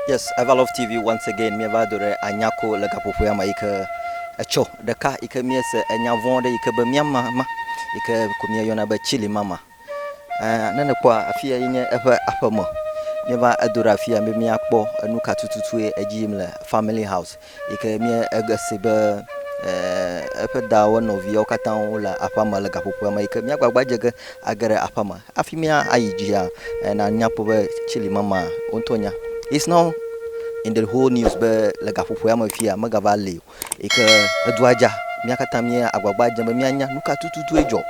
Yes, Ever Love TV once again mieva do ɖe anyako le gaƒoƒoea me yike etsɔ ɖeka yike miese enya vɔ̃ ɖe yike be miama ma yike ko mieyɔna be chili mama eh, ne nekpɔa afia yi nye eƒe aƒeme mieva edo ɖe afia be miakpɔ enuka tututue edzi yim le family house Yi ke mía ege se be eƒe da wo nɔviawo katã wo le aƒea me le gaƒoƒoa me yi ke mía gbagba dze ge age ɖe aƒea me. Hafi mía ayi dzia, na mía kpɔ be tsili mama wo ŋutɔ nya. It's not in the whole news be le gaƒoƒoa me fia mega va li o. Yi ke edua dza mía katã mía agbagba dzem be mía nya nuka tututue dzɔ.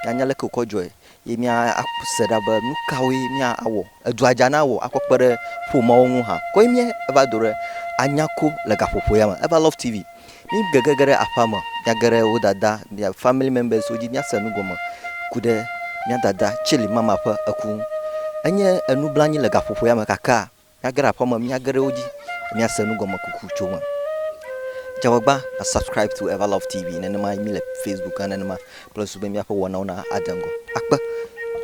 Mía nya leke wokɔ dzɔe. ye míase ɖa be nu kawoe míawɔ. Edua dza na wɔ akɔ kpe ɖe ƒomeawo ŋu hã. Koe míeva do ɖe Anyako le gaƒoƒo ya me. Eva Love TV. Mígege ge ɖe aƒea me, míage ɖe wo dada, mía famili mɛmbɛsiwo dzi míase nu gɔme ku ɖe mía dada Celi Mama ƒe eku ŋu. Enye enublanui le gaƒoƒo ya me kakaa. Míage ɖe aƒe me, míage ɖe wo dzi, míase nu gɔme kuku tso eme. Dzeagbagba na subscribe to Everlove TV nenema mí le Facebook hã nenema kple susu be míaƒe wɔnawo na adze ŋgɔ akpe.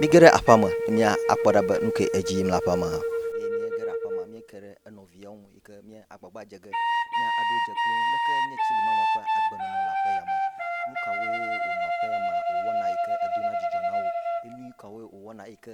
Míge ɖe aƒea me ne mía akpɔ ɖa be nu ke edzi yim le aƒea me hã. Eye míege ɖe aƒea me míeke ɖe enɔviawo ŋu yi ke mía agbagba dze ge mía aɖo dze kple wo. Leke nye Chilimama ƒe agbenɔnɔ le aƒe ya me? Nu kawoe wònɔ aƒe ya me wòwɔna yi ke edona dzidzɔ na wo? Enu kawoe wòwɔna yi ke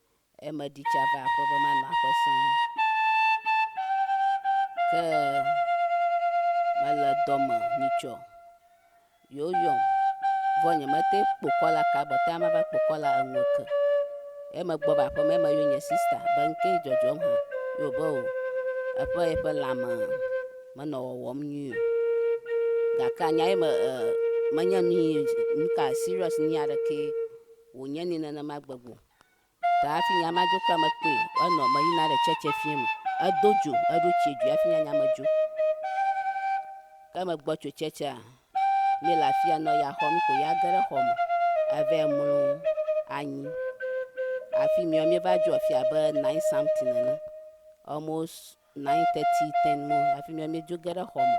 Ee, medi tsi ava aƒe be manɔ aƒe sẽe. Ke mele dɔ me nyitsɔ. Yewo yɔm. Vɔ nyemete kpo kɔla ka gbɔta ma va kpo kɔla eŋu ke. Ye megbɔ va aƒe me ye meyɔ nye sista be nu ke dzɔdzɔm hã. Ye wòbe o, eƒe yeƒe lãme menɔ wɔwɔm nyuie o. Gakea nya ye me e menye nu yi nu ka seriɔs nu yi aɖekee wònye nɛ nenema gbegbe o. Ta hafi nya ma dzo kura mekpɔe o. Enɔ meyina ɖe tsɛtsɛ fiẽ me. Edo dzo, eɖo tsie dzoe hafi nya nya me dzo. Ke megbɔ tso tsɛtsɛa, míle afia nɔ ya xɔm ko ya ge ɖe xɔ me eva yi mlɔ anyi. Afi miɔ, míeva dzo afi abe nine something nene. Almost nine thirty ten mo hafi mía míedzo ge ɖe xɔ me.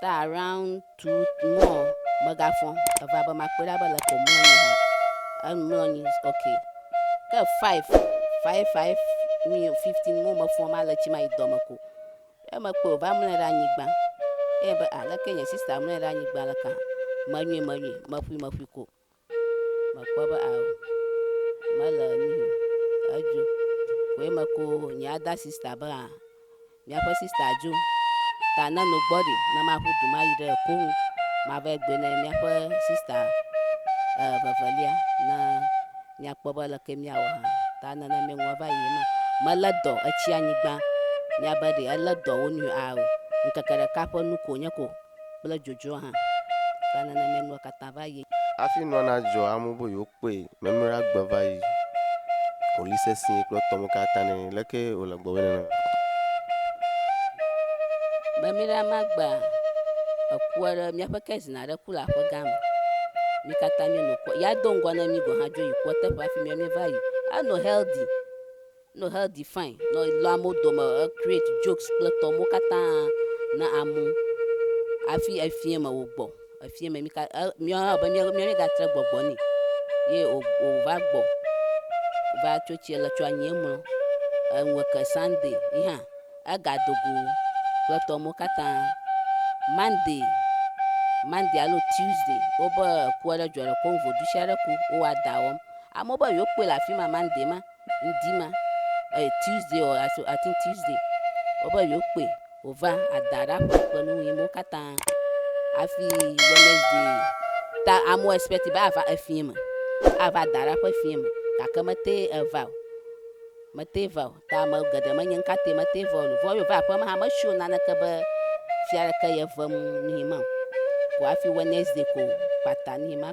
Ta around two mo megafɔ eva be makpɔe ɖa be le ko mlɔ anyi ha. Emlɔ anyi ok. Ke five five five mi fifteen mo mefɔ ma le tsi ma yi dɔ me ko. Emekpɔe wòva mlɔe ɖe anyigba. Eye be aleke nye sista mlɔe ɖe anyigba le ka? Menyui menyui meƒui meƒui ko. mekpɔ be ao mele nuyo edzo koe meko nye ada sista be a miaƒe sista dzo ta ne no gbɔ ɖi ne maƒu du mayi ɖe koŋu mava egbe ne miaƒe sista e, vevelia ne miakpɔ be leke miawɔ hã ta nene miŋɔ va yi ma mele dɔ etsi anyigba miabe ɖe ele dɔ wo nu ao ŋkeke ɖeka ƒe nu ko nye ko kple dzodzro hã, ta nenemae nua katã va yi. Hafi nua nadzɔ, amewo be yewokpɔe memlɔe agbe va yi. Wòli sesĩe kple tɔwo katã nɛ. Leke wòle gbɔgbe nenema? Memlɔe ame agbea ekua ɖe míaƒe kesin aɖe ku le aƒegã me. Mí katã míenɔ kua. Ya do ŋgɔ na mí gɔ̃ hã dzo yi kua teƒe hafi míawo míeva yi. Enɔ Heldi. No healthy fine nɔ lɔ amewo dome e create jokes kple tɔ mo katã na amewo afi efiɛ me wo gbɔ efiɛ me mi ka e miɔ hã be miɔ mi ga tre gbɔgbɔ ni ye o o va gbɔ va tso tsi le tso anyi emlɔ eŋu ke sunday yi hã ega dogo kple tɔ mo katã monday monday alo tuesday wo be ku aɖe dzɔ le ko ŋu ɖusi aɖe ku wo wa da wɔm amewo be yewo kpɔe le afi ma monday ma ŋdi ma eh Tuesday ɔ I think Tuesday wobe yewoakpɔe wòva ada ɖe aƒeme kple nu ʋi mawo katã hafi Wednesday ta amewo expect be ava efia me ava da ɖe aƒe fia me gake mete eva o mete va o ta ame geɖe menye nu ka tae mete va o nu vɔ yeva aƒeme hã metso naneke be fia ɖeke yevem nu yi ma o ko hafi Wednesday ko kpata nu yi ma.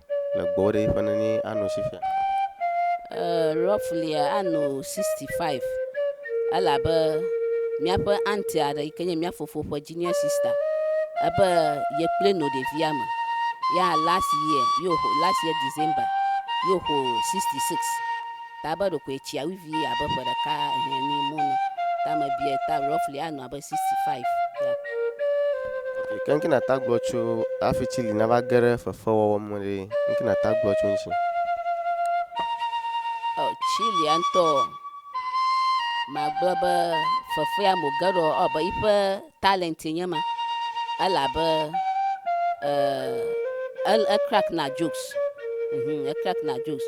le gbɔwó ɖe yiƒe nene ano si fia. Eee roughlia ano 65 elabe miaƒe aunty aɖe yike nye mia fofo ƒe junior sister ebe ye kple no ɖevia me ya last year ye wò last year December ye wòxɔ 66. ta be ɖokoe tsia wi vie abe ƒe ɖeka ehɛ mi mo ne ta me biɛ ta roughly a nɔ abe 65 ya. Ok ke ŋke na ta gblɔ tso afi tsi li na va ge ɖe fefe wɔwɔ me ɖe ŋke na ta gblɔ tso ŋtsi. Ɔ tsi lia ŋtɔ ma gblɔ be fefea mo ge ɖɔ ɔ be yiƒe talent nye ma ele abe e e crack na jokes. Mhm e crack na jokes.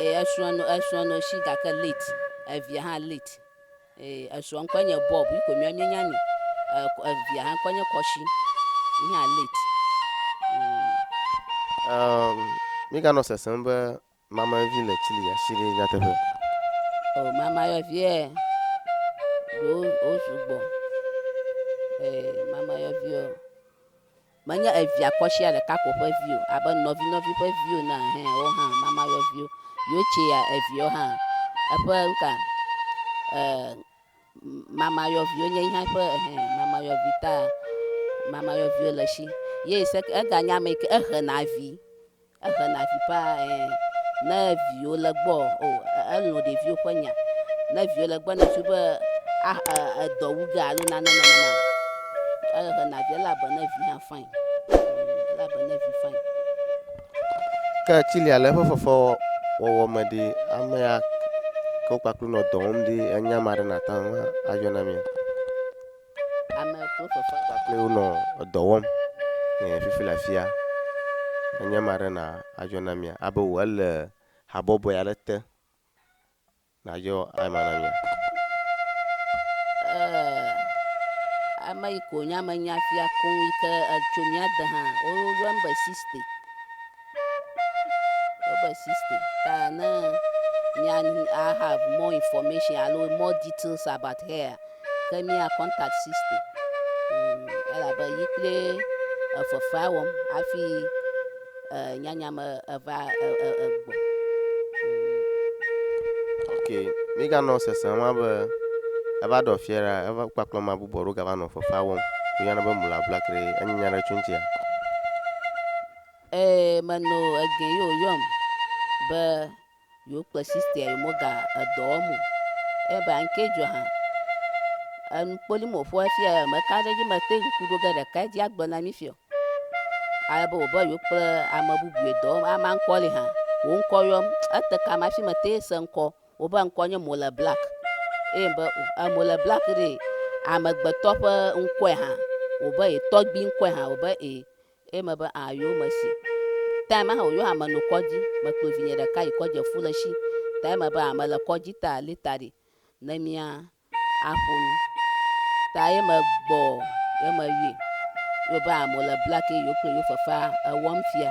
Ee, esrɔ̃a nɔ esrɔ̃a nɔ esi gake late. Evia hã late. Ee, esrɔ̃ ŋkɔe nye Bob, yi ko mía míenya nɛ. E, evia hã ŋkɔe nye Kɔshi, yi hã late. Um, míganɔ sesem be mamayɔvi le Chile ya si ɖe nyateƒe. O, oh, mamayɔviɛ ɖewo wo sugbɔ. Ee, mamayɔviɔ. Menye evia kɔsia ɖeka ko ƒe vi o, abe nɔvinɔvi ƒe viwo ene hã, woawo hã mama yɔviwo. Yochia eviawo hã eƒe nuka e mama yɔviwo nye eya ƒe ehe mama yɔvi ta mama yɔviwo le esi. Ye seke eganye ame yi ke ehena vi Ehena vi paa ɛɛ. Ne viwo le gbɔ o, elɔ̃ ɖeviwo ƒe nya. Ne viwo le gbɔ ne ŋsu be ah eh edɔ wu ge alo nane nenema o, ehena vi ele agbe ne vi hã fain. Ele agbe ne vi fain. Ke tsilia le eƒe fefewɔwɔ me ɖi, amea ke wokpakple nɔ dɔ wɔm ɖi, enya ma ɖe nate ŋu ayɔ na mia? Ame kple fefe kpakple wo nɔ edɔ wɔm le fifi le afia. Enye ma ɖe na adzɔ na mia abe wò ele habɔbɔe aɖe te nadzɔ ema na mia. Eh, ame yi ko nya me nya fia koŋ yi ke etso mía de hã. Woyɔm be Siste. Proverb 60. Ta ne mia ne I have more information alo more details about her ke mia contact sisti mm, elabe yi kple efefea wɔm hafi eh, nyanya me eva eh, eh, eh, gbɔ. ok míganɔ sese ma be eva ɖɔ fiɛ ɖa eva kpakplɔ ma bubɔ ɖo gava nɔ fefea wɔm míana be mula blakre enye nya ɖe tso ŋutia Ee, meno egee ye wòyɔm be yewoakpe sistea yi moga edɔ wɔm o. Eye be anke dzɔ hã. Enu kpoli mo ƒo hafi ya meka ɖe edzi mete ŋu ku ɖo ge ɖeka edzi agblɔ na mi fia. Ale be wòbe yewokple ame bubu ye dɔ wɔm. Amea ŋkɔ li hã. Wò ŋkɔ yɔm. Ete kam hafi mete se ŋkɔ. Wobe ŋkɔ nye Mole Black. Eye be o Mole Black ɖee amegbetɔ ƒe ŋkɔe hã. Wòbe ye tɔgbui ŋkɔe hã. Wòbe ee. Eye mebe a yo mesi tae ma hã oyo ame no kɔdzi me kplɔ vinye ɖeka yi kɔdzi efu le shi tae mebe a mele kɔdzi ta li ta ɖi ne mia a ƒo nu ta ye me gbɔ ye me yue yo be a mole black ye yo kple yo fefea ewɔm fia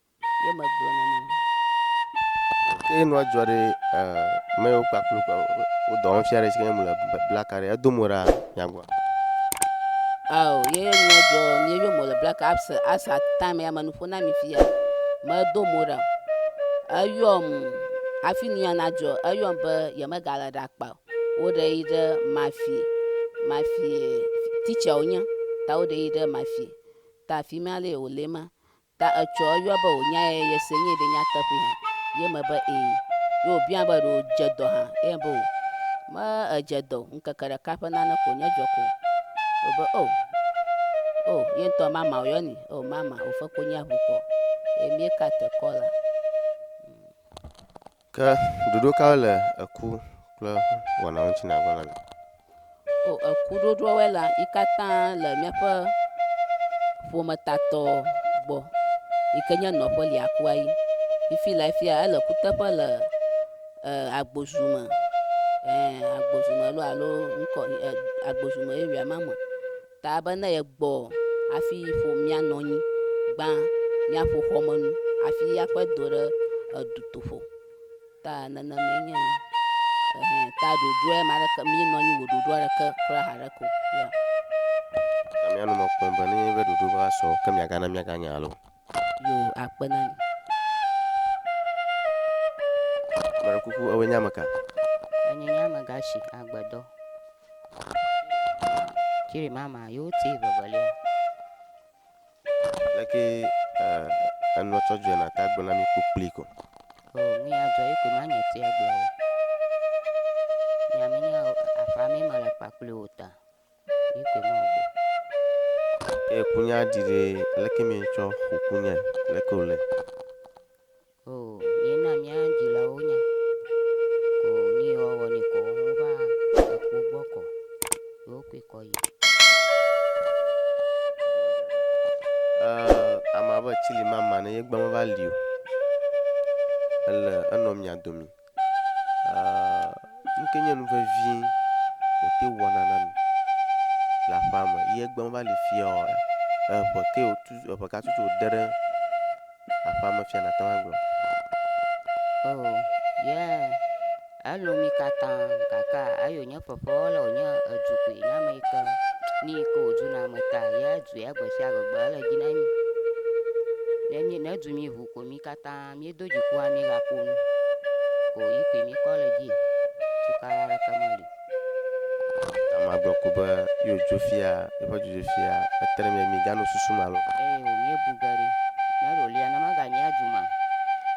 ye megblɔ na mi. Ke nua dzɔ ɖe mewo kpakple wo dɔ wɔm fia ɖe si ke mele blaka ɖe edo mo ɖa nyagua. Ao ye nua dzɔ mi ye mo le blaka asa asa time ya menuƒo na mi fia medo mo ɖa eyɔm afi nia nadzɔ eyɔm be yemegale ɖe akpa woɖe yi ɖe mafi mafi teacher wonye ta woɖe yi ɖe mafi ta afi ma le wòle ma Ta etsɔ eyɔa be wònyae yese nyuie ɖe nyateƒee hã? Ye me be ee. Ye wòbiã be ɖe wòdze dɔ hã? Ye me be o. Me edze dɔ o, ŋkeke ɖeka ƒe nane ko wònye dzɔ ko. Wo be o. O, ye ŋutɔ mama wòyɔ ni. O, mama, wòfe konyi aʋu kɔ. Ye mí ka te kɔ la. Ke ɖoɖo kawoe le eku kple wɔna ŋuti nàgblɔ na mí? O, eku ɖoɖoawoe la, yi katã le míaƒe ƒometatɔ gbɔ yi ke nye nɔƒe liakua yi. Fifi lae fia ele kuteƒe le e, agbozu me, ɛɛ, agbozu me alo ŋkɔ, ɛ, agbozu me area ma me. Ta be ne yegbɔ hafi ƒo mía nɔ anyi, gbã míaƒo xɔmenu hafi aƒe do ɖe edutoƒo. Ta nenemae nye enu. Ehe, ta ɖoɖoe ma ɖeke, mí nɔ anyi wò ɖoɖoa ɖeke kura haɖe ko. Yɔ. Gake mía nu me kpɔm be nenye be ɖoɖo va sɔ, ke miagana míaganya loo. Yoo, akpe na mi. Mele kuku, ewɔe nye ame ka? Enye nye amegashi agbedɔ. Tsiri mama, yo ti vevelia. Leke eh, enɔ tsɔ dzɔe na ta gblɔ na mi kpokpli ko. O, nu ya dzɔ yi koe ma nye ti agblɔ o. Nyaminya o, afa mi mele kpakpli o ta. Ye kunya ɖi ɖɛ, leke mietsɔ xɔ kunyae? Leke wòle? Oo, míena mía dzilawo nya. Ko nu yi woawɔ nɛ kɔ, wova ekpo gbɔ kɔ. Ye wokɔe kɔ yi. Ee, amea be tsili mama ne yegbe meva li o. Ele enɔ mia domi. nu ke nye nu vevie wòte wɔna na mi le aƒea me ye egbe meva li fiaɔ, eŋe ke wòtu eŋe ka tutu wòde ɖe aƒea me fia nàte ŋu agblɔ. Oo, ye elo mi katã gake eyo nye fefewɔla wònye edu koe nye ame yi ke nu yi ke wòdu na ame ta ye edu ya gbe sia gbe gbe ele dzi na mi. Ne mi ne du mi ŋu ko mi katã. Na míedo dzikua míegaƒo nu ko yi koe míekɔ le dzi tukala aɖeke meli. Tama gblɔ ko be yewo dzo fia yeƒe dzodzo fia etre mia mi gano susu ma lo. Eye wo míebu ge ɖi ne ɖolia ne maganyi adzu ma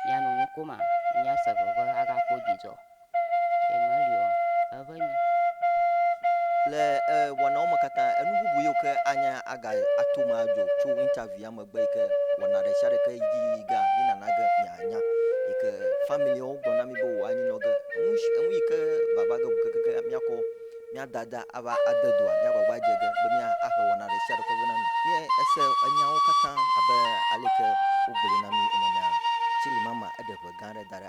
mianu nu ko ma míase veve agakpɔ dzidzɔ. Le wɔnawo me katã, enu bubu yiwo ke anya aga ato me adzɔ tso interview ya megbe yi ke wɔna ɖe sia ɖe ke dzi yiyi ge mi nana ge mianya yi ke familiawo gblɔ na mi be wòa nyi nɔ ge. Enu si enu yi ke vava ge keke miakɔ mia dada ava ade doa mia gbagba dze ge be mia ahe wɔna ɖe sia ɖe kɔ ge na mi. Ye ese enyawo katã abe aleke wogblɔe na mi ene mea, Tsilimama eɖe ʋe gã aɖe da ɖe.